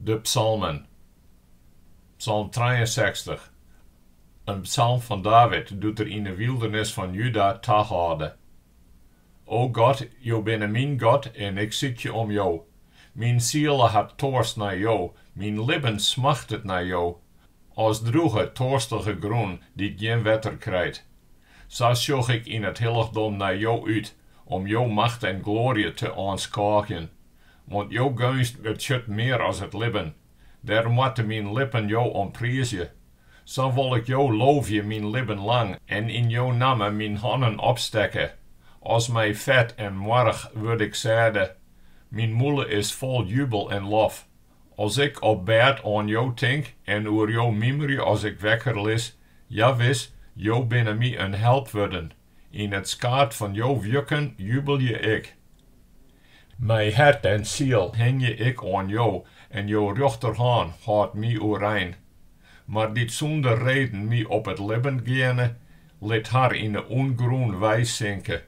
De psalmen. Psalm trijeensechstich, in psalm fan David doe't er yn 'e wyldernis fan Juda tahâlde. O God, Jo binne myn God en ik sykje om Jo. Myn siele hat toarst nei Jo, myn libben smachtet nei Jo, as drûge, toarstige grûn dy't gjin wetter krijt. Sa sjoch ik yn it hillichdom nei Jo út, om Jo macht en gloarje te oanskôgjen. Want jo geunst betsjut mear as it libben, dêrom moatte myn lippen jo priizje. Sa wol ik jo loovje myn libben lang en yn jo namme myn hannen opstekke. As mei fet en moarch wurd ik sêde, myn mûle is fol jubel en lof. As ik op bêd oan jo tink en oer jo mymmerje as ik wekker lis, ja wis, jo binne my in help wurden. Yn it skaad fan jo wjukken jubelje ik. Mei hert en siel hingje ik oan jo en jo rjochterhân hâldt my oerein. Mar dy't sûnder reden my op it libben geane, lit har yn 'e ûngrûn weisinke.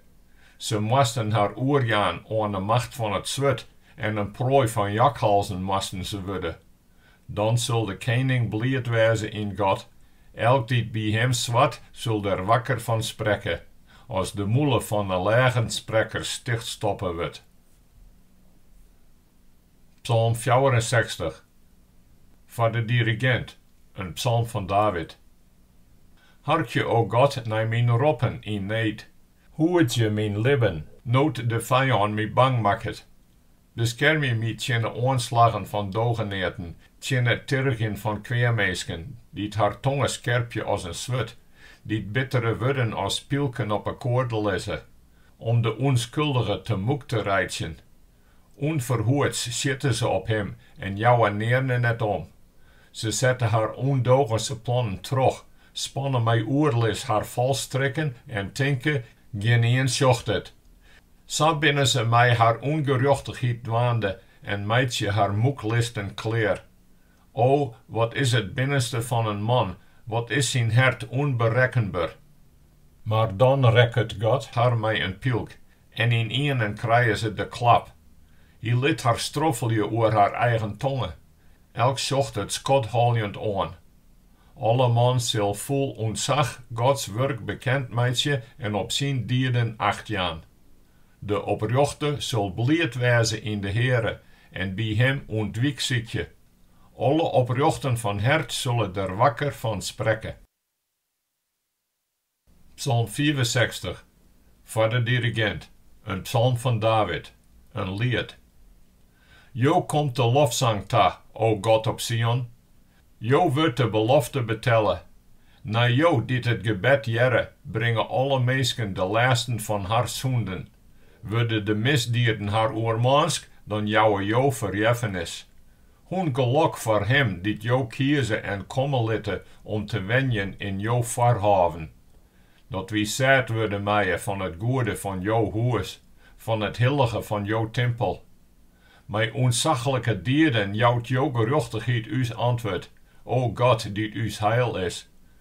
Se moasten har oerjaan oan 'e macht fan it swurd en in proai fan jakhalzen moasten se wurde. Dan sil de kening bliid wêze yn God, elk dy't by him swart, sil der wakker fan sprekke, as de mûle fan 'e lêgensprekkers tichtstoppe wurdt. Psalm fjouwerensechstich. Foar de dirigint, in psalm fan David. Harkje, o God, nei myn roppen yn need. Hoedzje myn libben, no't de fijân my bang makket. Beskermje my tsjin de oanslaggen fan dogeneaten, tsjin it tirgjen fan kweaminsken, dy't har tonge skerpje as in swurd, dy't bittere wurden as pylken op 'e koarde lizze, om de ûnskuldige te mûk te reitsjen. Unferhoeds sjite se op him en jouwe nearne net om. Se sette har ûndogense plannen troch, spanne mei oerlis har falstrikken en tinke, Gjinien sjocht it. Sa binne se mei har ûngerjochtichheid dwaande en meitsje har tûke listen klear. O, wat is it binnenste fan in man, wat is syn hert ûnberekkenber! Mar dan rekket God har mei in pylk en ynienen krije se de klap. Hy lit har stroffelje oer har eigen tonge, elk sjocht it skothâljend oan. Alle man sil fol ûntsach Gods wurk bekend meitsje en op syn dieden acht jaan. De oprjochte sil bliid wêze yn de Heare en by Him ûntwyk sykje. Alle oprjochten fan hert sille der wakker fan sprekke. Psalm fiifensechstich, foar de dirigint, in psalm fan David, in liet. Jo komt de lofsang ta, o God op Sion, jo wurdt de belofte betelle. Nei jo dy't it gebed hearre, bringe alle minsken de lêsten fan har sûnden. Wurde de misdieden har oermânsk, dan jouwe jo ferjeffenis. Hoe'n gelok foar him dy't jo kieze en komme litte om te wenjen yn jo foarhôven, dat wy sêd wurde meie fan it goede fan jo hûs, fan it hillige fan jo timpel. Mei ûntsachlike dieden jout jo gerjochtichheid ús antwurd, o God, dy't ús heil is.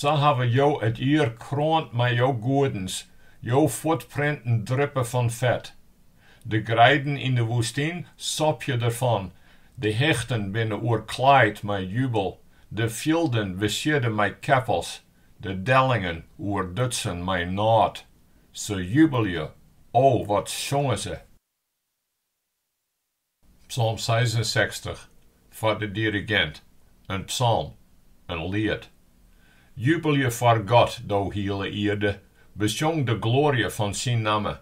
Sa hawwe jo it jier kroand mei jo goedens, jo fuotprinten drippe fan fet. De greiden yn de woestyn sopje derfan, de hichten binne oerklaaid mei jubel, de fjilden besiedde mei keppels, de dellingen oerdutsen mei nôt. Se jubelje, o, wat sjonge se! Psalm seisensechstich, foar de dirigint, in psalm, in liet. Jubelje foar God, do hiele ierde, besjong de gloarje fan syn namme,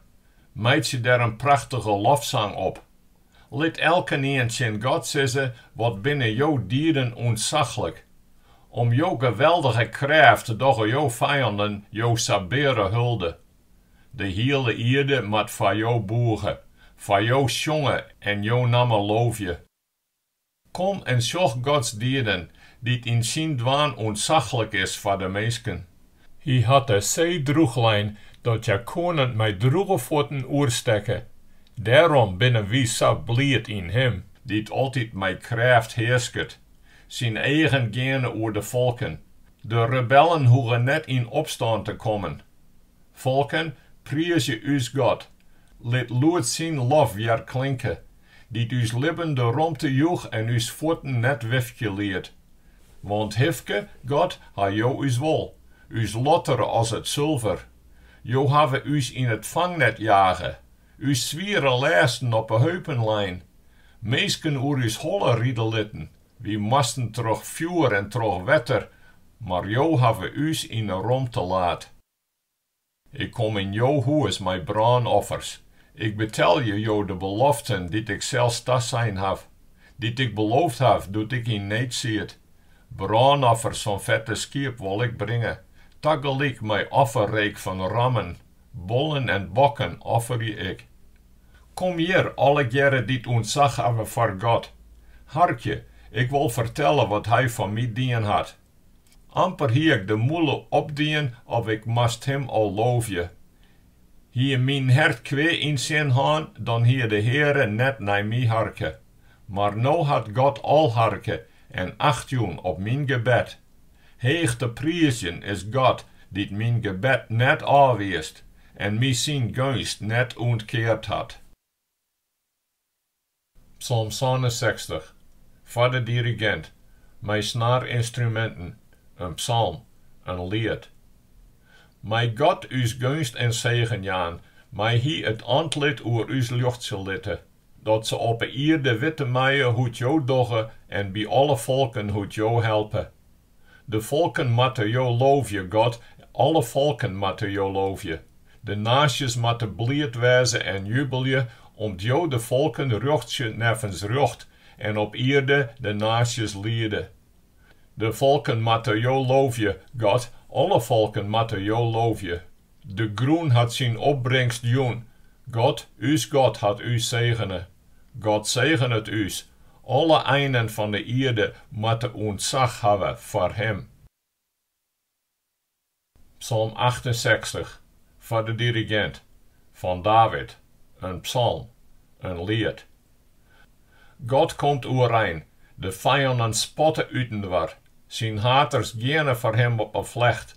meitsje der in prachtige lofsang op. Lit elkenien tsjin God sizze, Wat binne jo dieden ûntsachlik! Om jo geweldige krêft dogge jo fijannen jo sabeare hulde. De hiele ierde moat foar Jo bûge, foar Jo sjonge en Jo namme loofje. Kom en sjoch Gods dieden, dy't yn syn dwaan ûntsachlik is foar de minsken. Hy hat de see drûchlein, dat hja koenen mei drûge fuotten oerstekke. Dêrom binne wy sa bliid yn Him. Dy't altyd mei krêft hearsket. Syn eagen geane oer de folken. De rebellen hoege net yn opstân te kommen. Folken, priizje ús God, lit lûd syn lof wjerklinke, dy't ús libben de romte joech en ús fuotten net wifkje liet. Want hifke, God, ha jo ús wol, ús lottere as it sulver. Jo hawwe ús yn it fangnet jage, ús swiere lêsten op 'e heupen lein, minsken oer ús holle ride litten, Wy moasten troch fjoer en troch wetter, mar Jo hawwe ús yn 'e romte laat. Ik kom yn Jo hûs mei brânoffers. Ik betelje Jo de beloften dy't ik sels tasein haw, dy't ik beloofd haw doe't ik yn need siet. Brânoffers fan fette skiep wol ik bringe, tagelyk mei offerreek fan rammen. Bollen en bokken offerje ik. Kom hjir, allegearre dy't ûntsach hawwe foar God. Harkje, ik wol fertelle wat Hy foar my dien hat. Amper hie ik de mûle opdien of ik moast Him al loovje. Hie myn hert kwea yn 't sin hân, dan hie de Heare net nei my harke. Mar no hat God al harke en acht jûn op myn gebed. Heech te priizjen is God, dy't myn gebed net ôfwiisd en my syn geunst net ûntkeard hat. Psalm sânensechstich, foar de dirigint, mei snaarynstruminten, in psalm, in liet. Mei God ús geunst en segen jaan, mei Hy it antlit oer ús ljochtsje litte, Dat se op 'e ierde witte meie hoe't Jo dogge en by alle folken hoe't Jo helpe. De folken moatte Jo loovje, God, alle folken moatte Jo loovje. De naasjes moatte bliid wêze en jubelje, om't Jo de folken rjochtsje neffens rjocht en op ierde de naasjes liede. De folken moatte Jo loovje, God, alle folken moatte Jo loovje. De grûn hat syn opbringst jûn. God, ús God, hat ús segene. God segenet ús. Alle einen fan de ierde moatte ûntsach hawwe foar Him. Psalm achtensechstich, foar de dirigint, fan David, in psalm, in liet, God komt oerein, de fijannen spatte útinoar, syn haters geane foar him op 'e flecht.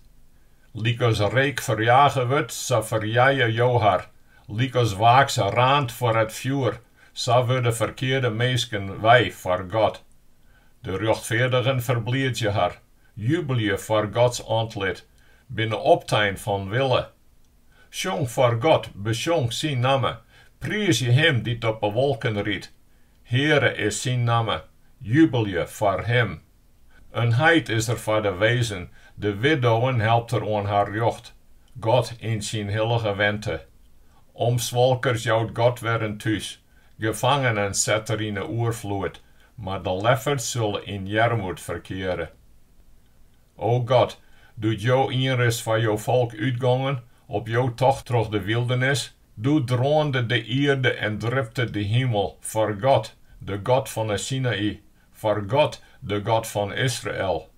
Lykas reek ferjage wurdt, sa ferjije Jo har, lykas waaks raant foar it fjoer, sa wurde ferkearde minsken wei foar God. De rjochtfeardigen ferbliidzje har, jubelje foar Gods antlit, binne optein fan wille, Sjong foar God, besjong syn namme, priizje Him dy't op 'e wolken rydt. Heare is syn namme, jubelje foar Him. In heit is er foar de wezen, de widdowen helpt er oan har rjocht. God yn syn hillige wente. Omswalkers jout God wer in thús, gefangenen set er yn 'e oerfloed, mar de lefferts sille yn earmoed ferkeare. O God, doe't jo ienris foar jo folk útgongen op jo tocht troch de wyldernis, doe droande de ierde en dripte de himel foar God, de God fan 'e Sinaï, foar God, de God fan Israel.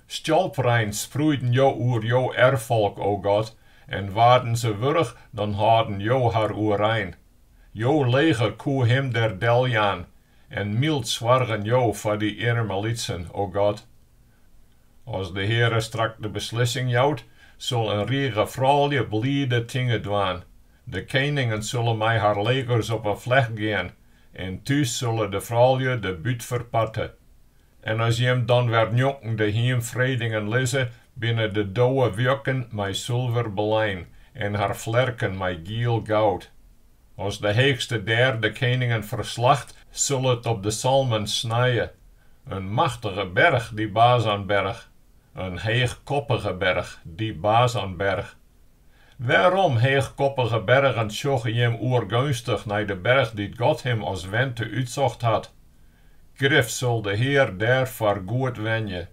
Stjalprein sproeiden jo oer jo erffolk, o God, en waarden se wurch, dan hâlden jo har oerein. Jo leger koe him der deljaan, en myld soargen jo foar dy earmelytsen, o God. As de Heare strak de beslissing jout, sil in rige froulju blide tinge dwaan. De keningen sulle mei har legers op 'e flecht gean, en thús sulle de froulju de bút ferparte. En as jim dan wer njonken de hiemfredingen lizze, binne de dowewjukken mei sulver belein en har flerken mei giel goud. As de Heechste dêr de keningen ferslacht, sil it op de Salmon snije. In machtige berch, dy Basanberch, in heechkoppige berch, dy Basanberch. Wêrom, heechkoppige bergen, sjogge jim oergeunstich nei de berch dy't God him as wente útsocht hat? Grif sil de Hear dêr foargoed wenje.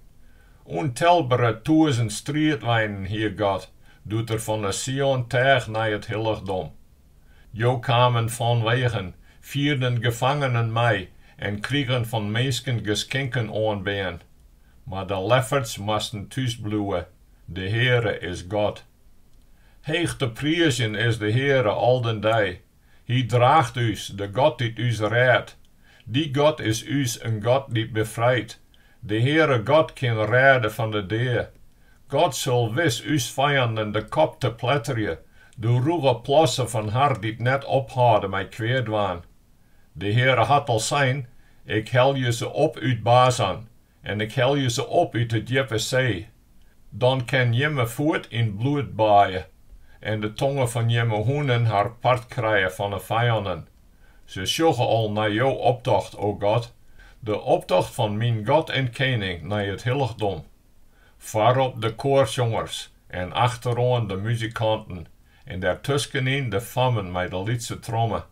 Untelbere tûzen striidweinen hie God doe't er fan 'e Sion teach nei it hillichdom. Jo kamen fanwegen, fierden gefangenen mei en krigen fan minsken geskinken oanbean. Mar de lefferts moasten thús bliuwe, de Heare is God. Heech te priizjen is de Heare al den dei, Hy draacht ús, de God dy't ús rêdt. Dy God is ús in God dy't befrijt. De Heare God kin rêde fan de dea. God sil wis ús fijanden de kop tepletterje, de rûge plassen fan har dy't net ophâlde mei kwea dwaan. De Heare hat al sein, Ik helje se op út Basan, en ik helje se op út de djippe see, dan kin jimme fuot yn bloed baaie en de tonge fan jimme hûnen har part krije fan 'e fijannen. Se sjogge al nei jo optocht, o God, de optocht fan myn God en Kening nei it hillichdom. Foarop de koarsjongers en achteroan de muzikanten, En dêrtuskenyn de fammen mei de lytse tromme.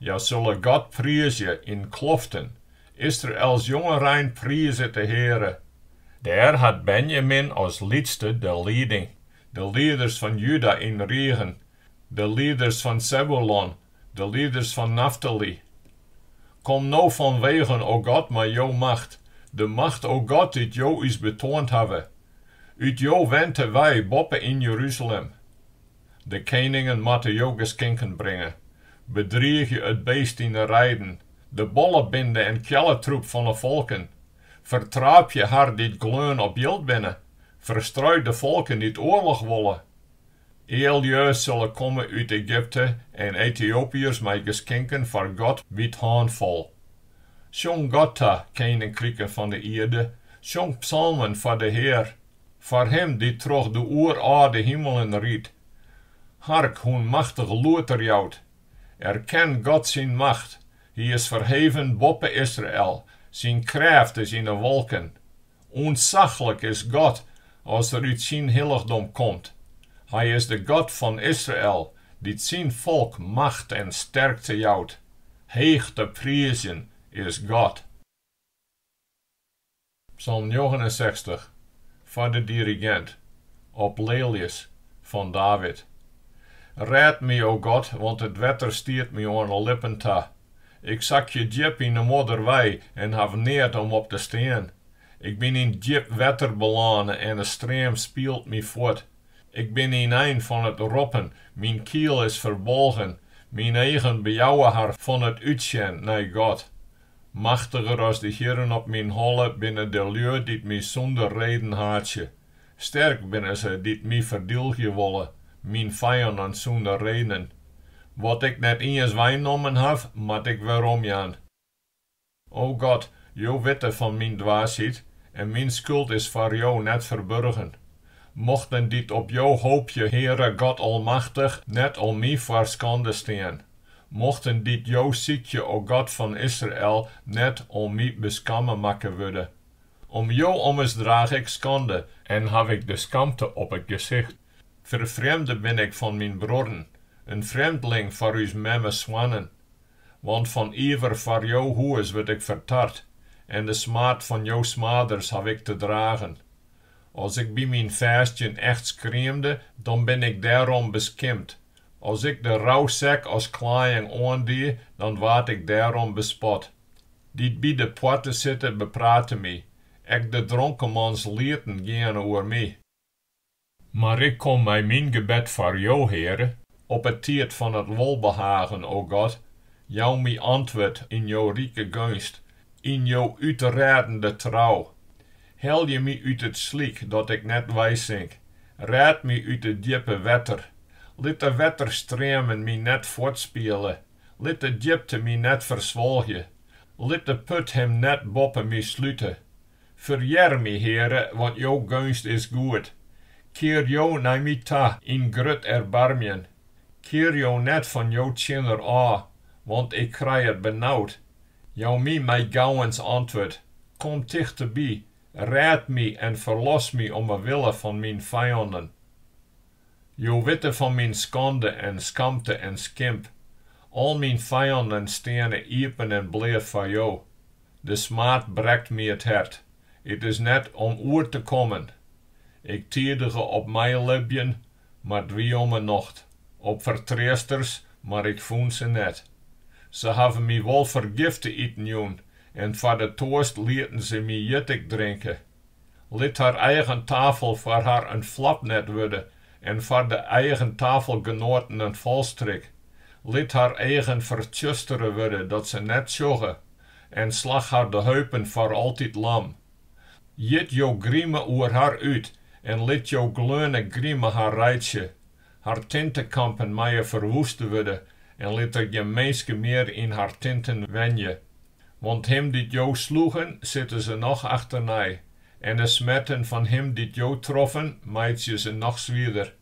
Hja sulle God priizje yn kloften, Israels jongerein priizet de Heare. Dêr hat Benjamin as lytste de lieding, de lieders fan Juda yn rigen, de lieders fan Sebulon De lieders fan Naftaly. Kom no fanwegen, o God, mei jo macht, de macht, o God, dy't jo ús betoand hawwe. Ut jo wente wei boppe yn Jeruzalem. De keningen moatte jo geskinken bringe. Bedriigje it beest yn 'e reiden, de bollebinde en kjelletroep fan 'e folken. Fertraapje har dy't gleun op jild binne, ferstrui de folken dy't oarloch wolle. Eallju sille komme út Egypte en Etiopiërs mei geskinken foar God by 't hânfol. Sjong God ta, keninkriken fan de ierde, sjong psalmen foar de Hear, foar Him dy't troch de oerâlde himelen rydt. Hark, hoe'n machtich lûd er jout! Erken God syn macht, Hy is ferheven boppe Israel, syn krêft is yn 'e wolken. Ûntsaglik is God as er út syn hillichdom komt. Hy is de God fan Israel, dy't syn folk macht en sterkte jout. Heech te priizjen is God! Psalm njoggenensechstich, foar de dirigint, op lelies, fan David. Rêd my, o God, want it wetter stiet my oan 'e lippen ta. Ik sakje djip yn 'e modder wei en haw neat om op te stean. Ik bin yn djip wetter belâne en 'e stream spielt my fuort. Ik bin ynein fan it roppen, myn kiel is ferbolgen, myn eagen bejouwe har fan it útsjen nei God. Machtiger as de hierren op myn holle binne de lju dy't my sûnder reden haatsje. Sterk binne se dy't my ferdylgje wolle, myn fijannen sûnder reden. Wat ik net iens weinnommen haw, moat ik weromjaan. O God, jo witte fan myn dwaasheid, en myn skuld is foar jo net ferburgen. Mochten dy't op jo hoopje, Heare God Almachtich, net om my foar skande stean. Mochten dy't jo sykje, o God fan Israel, net om my beskamme makke wurde. Om jo ommers draach ik skande. En haw ik de skamte op it gesicht. Ferfrjemde bin ik fan myn bruorren, in frjemdling foar ús memme soannen. Want fan iever foar jo hûs wurd ik fertart en de smaad fan jo smaders haw ik te dragen. As ik by myn fêstjen echt skriemde, dan bin ik dêrom beskimpt. As ik de rousek as klaaiïng oandie, dan waard ik dêrom bespot. dy't by de poarte sitte, beprate my. Ek de dronkemanslieten geane oer my. Mar ik kom mei myn gebed foar Jo, Heare, op 'e tiid fan it wolbehagen, o God, jou my antwurd yn Jo rike geunst, yn Jo útrêdende trou. Helje my út it slyk, dat ik net weisink, rêd my út it djippe wetter, lit de wetterstreamen my net fuortspiele, Lit de djipte my net ferswolgje, lit de put him net boppe my slute. Ferhear my, Heare, want jo geunst is goed, kear jo nei my ta yn grut erbarmjen, kear jo net fan jo tsjinner ôf, want ik krij it benaud. Jou my mei gauwens antwurd, Kom tichteby, rêd my en ferlos my om 'e wille fan myn fijannen. Jo witte fan myn skande en skamte en skimp. Al myn fijannen steane iepen en bleat foar jo. De smaad brekt my it hert. It is net om oer te kommen. Ik tidige op meilibjen, mar 't wie om 'e nocht, op fertreasters, mar ik fûn se net. Se hawwe my wol fergift te iten jûn en foar de toarst lieten se my jittik drinke. Lit har eigen tafel foar har in flapnet wurde en foar de eigen tafelgenoaten in falstrik. Lit har eagen fertsjustere wurde dat se net sjogge en slach har de heupen foar altyd lam. Jit jo grime oer har út en lit jo gleone grime har reitsje. Har tintekampen meie ferwuoste wurde en lit der gjin minske mear yn har tinten wenje. Want him dy't jo sloegen, sitte se noch achternei, en de smerten fan him dy't jo troffen, meitsje se noch swierder.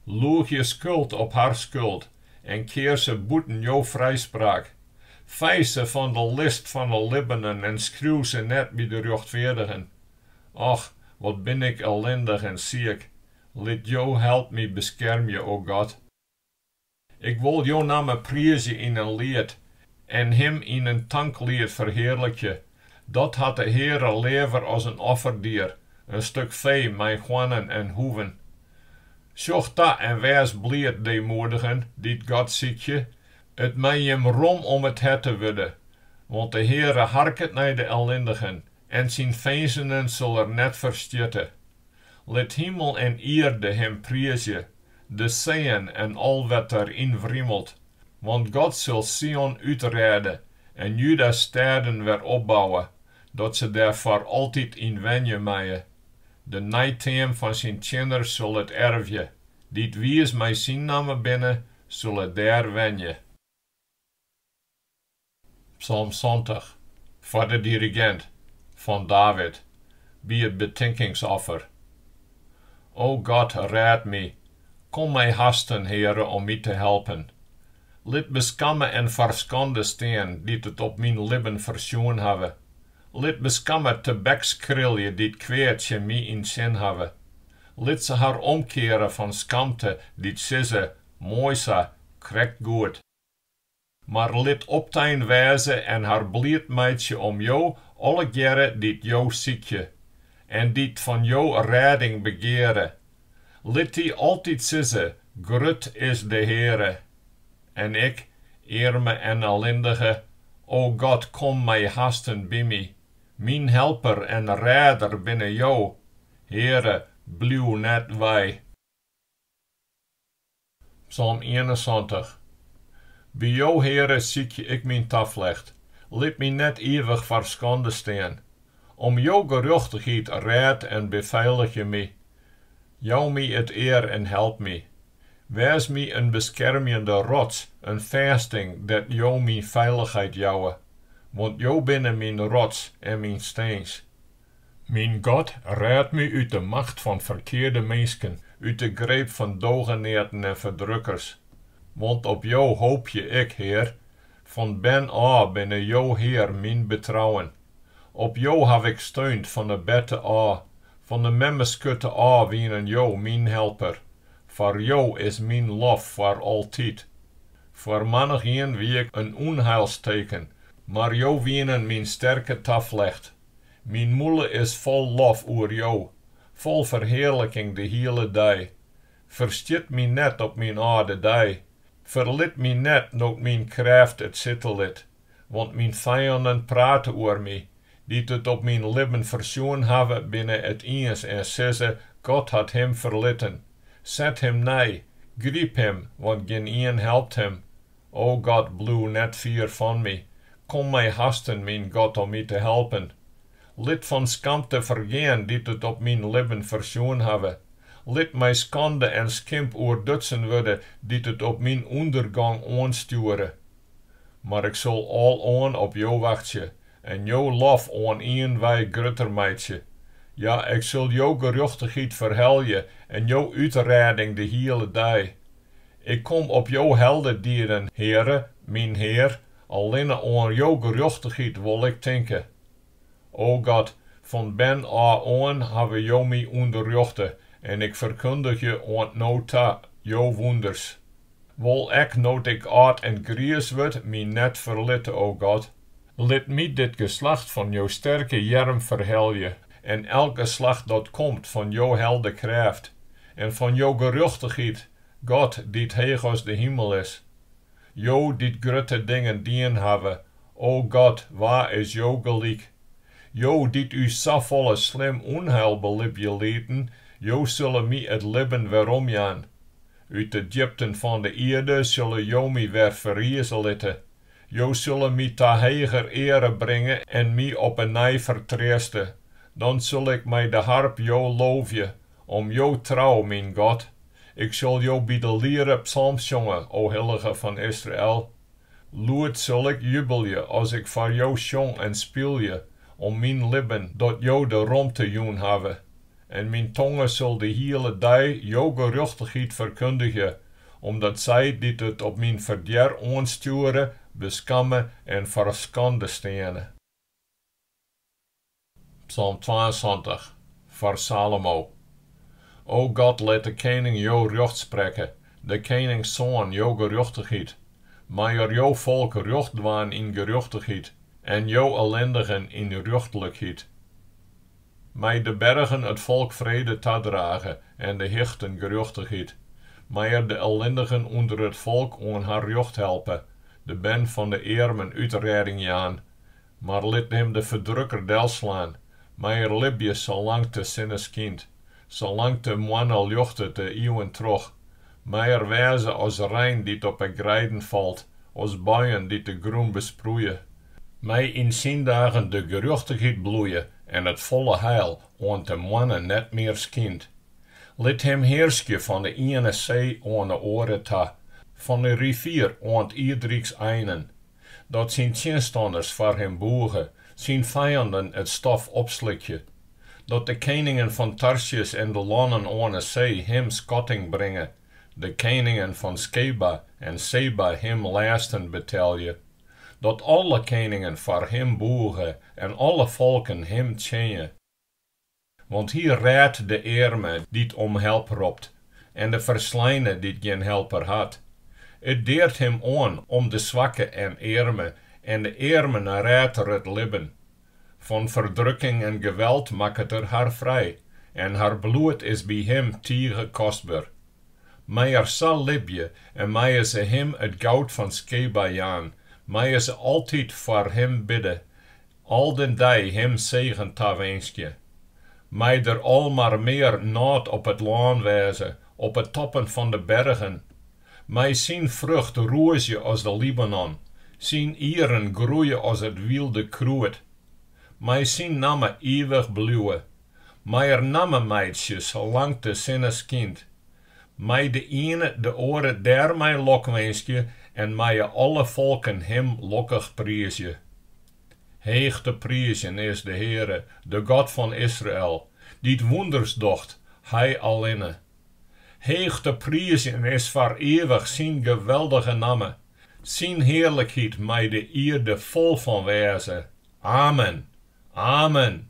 Loegje skuld op har skuld en kear se bûten jo frijspraak. Fei se fan de list fan 'e libbenen en skriuw se net by de rjochtfeardigen. Och, wat bin ik ellindich en siek! Lit jo help my beskermje, o God! Ik wol Jo namme priizje yn in liet en Him yn in tankliet ferhearlikje. Dat hat de Heare leaver as in offerdier, in stuk fee mei hoarnen en hoeven. Sjoch ta en wês bliid, deemoedigen, dy't God sykje, it mei Jim rom om it herte wurde, want de Heare harket nei de ellindigen en syn finzenen sil er net ferstjitte. Lit himel en ierde him priizje, de seeën en al wat der yn wrimelt, want God sil Sion útrêde en Juda's stêden wer opbouwe, dat se dêr foar altyd yn wenje meie. De neiteam fan syn tsjinners sil it ervje, dy't wiis mei syn namme binne, sille dêr wenje. Psalm santich, foar de dirigint, fan David, by it betinkingsoffer. O God, rêd my, kom mei hasten, Heare, om my te helpen. Lit beskamme en ferskande stean dy't it op myn libben fersjoen hawwe, lit beskamme tebekskrilje dy't kwea tsjin my yn 't sin hawwe, lit se har omkeare fan skamte dy't sizze, Moai sa, krekt goed. Mar lit optein wêze en har bliid meitsje om jo allegearre dy't jo sykje, en dy't fan jo rêding begeare. Lit dy altyd sizze, Grut is de Heare! En ik, earme en ellindige, O God, kom mei hasten by my! Myn helper en rêder binne jo, Heare, bliuw net wei. Psalm ienensantich. By Jo, Heare, sykje ik myn taflecht. Lit my net ivich foar skande stean. Om Jo gerjochtichheid rêd en befeiligje my. Jou my it ear en help my. Wês my in beskermjende rots, in fêsting dêr't Jo myn feilichheid jouwe. Want Jo binne myn rots en myn stins. Myn God, rêd my út de macht fan ferkearde minsken, út de greep fan dogeneaten en ferdrukkers. Want op Jo hoopje ik, Hear, fan bern ôf binne Jo, Hear, myn betrouwen. Op Jo haw ik steund, fan 'e berte ôf, fan 'e memmeskurte ôf wienen Jo myn helper. Foar Jo is myn lof foar altyd. Foar manichien wie ik in ûnheilsteken, mar Jo wienen myn sterke taflecht. Myn mûle is fol lof oer Jo, fol ferhearliking de hiele dei. Ferstjit my net op myn âlde dei, ferlit my net no't myn krêft it sitte lit, want myn fijannen prate oer my, dy't it op myn libben fersjoen hawwe, binne it iens en sizze, God hat him ferlitten. Set him nei, gryp him, want gjinien helpt him. O God, bliuw net fier fan my, kom mei hasten, myn God, om my te helpen. Lit fan skamte fergean dy't it op myn libben fersjoen hawwe, lit mei skande en skimp oerdutsen wurde dy't it op myn ûndergong oanstjoere. Mar ik sil aloan op Jo wachtsje en Jo lof oan ien wei grutter meitsje. Ja, ik sil Jo gerjochtichheid ferhelje en Jo útrêding de hiele dei. Ik kom op jo heldedieden, Heare, myn Hear, allinne oan jo gerjochtichheid wol ik tinke. O God, fan bern ôf oan hawwe jo my ûnderrjochte en ik ferkundigje oant no ta jo wûnders. Wol ek no't ik âld en griis wurd my net ferlitte, o God. Lit my dit geslacht fan jo sterke earm ferhelje, en elk geslacht dat komt fan jo heldekrêft, en fan jo gerjochtichheid, God, dy't heech as de himel is. Jo, dy't grutte dingen dien hawwe, o God, wa is jo gelyk? Jo, dy't ús safolle slim ûnheil belibje lieten, jo sille my it libben weromjaan. Ut de djipten fan de ierde sille jo my wer ferrize litte, Jo sille my ta heger eare bringe en my op 'e nij fertreaste. Dan sil ik mei de harp Jo loovje, om Jo trou, myn God. Ik sil Jo by de liere psalmsjonge, o Hillige fan Israel. Lûd sil ik jubelje as ik foar Jo sjong en spylje, om myn libben, dat Jo de romte jûn hawwe. en myn tonge sil de hiele dei jo gerjochtichheid ferkundigje, omdat sy dy't it op myn ferdjer oanstjoere, beskamme en foar skande steane. Psalm twaensantich, foar Salomo. O God, lit de kening jo rjocht sprekke, de keningssoan jo gerjochtichheid. Mei er jo folk rjocht dwaan yn gerjochtichheid, en jo ellindigen yn rjochtlikheid. Mei de bergen it folk frede tadrage en de hichten gerjochtichheid. Mei er de ellindigen ûnder it folk oan har rjocht helpe, de bern fan de earmen útrêding jaan. Mar lit him de ferdrukker delslaan, mei er libje salang't de sinne skynt. Salang't de moanne ljochtet de iuwen troch, mei er wêze as rein dy't op 'e greiden falt, as buien dy't de grûn besproeie. Mei yn syn dagen de gerjochtichheid bloeie en it folle heil oant de moanne net mear skynt. Lit him hearskje fan 'e iene see oan 'e oare ta, fan 'e rivier oant ierdryks einen. dat syn tsjinstanners foar him boege, syn fijanden it stof opslikje, dat de keningen fan Tarsjis en de lannen oan 'e see him skatting bringe, de keningen fan Skeba en Seba him lêsten betelje, dat alle keningen foar him boege en alle folken him tsjinje. Want Hy rêdt de earme dy't om help ropt en de fersleine dy't gjin helper hat. It deart Him oan om de swakke en earme en de earmen rêdt er it libben. Fan ferdrukking en geweld makket er har frij en har bloed is by Him tige kostber. Mei er sa libje en meie se Him it goud fan Skeba jaan, meie se altyd foar Him bidde Al den dei him segen tawinskje. Mei der al mar mear nôt op it lân wêze, op 'e toppen fan de bergen. Mei syn frucht rûzje as de Libanon, syn ieren groeie as it wylde krûd. Mei syn namme ivich bliuwe. Mei er namme meitsje salang't de sinne skynt. Mei de iene de oare dêrmei lokwinskje en meie alle folken Him lokkich priizje. Heech te priizjen is de Heare, de God fan Israel, dy't wûnders docht, Hy allinne. Heech te priizjen is foar ivich Syn geweldige namme, Syn hearlikheid mei de ierde fol fan wêze. Amen! Amen!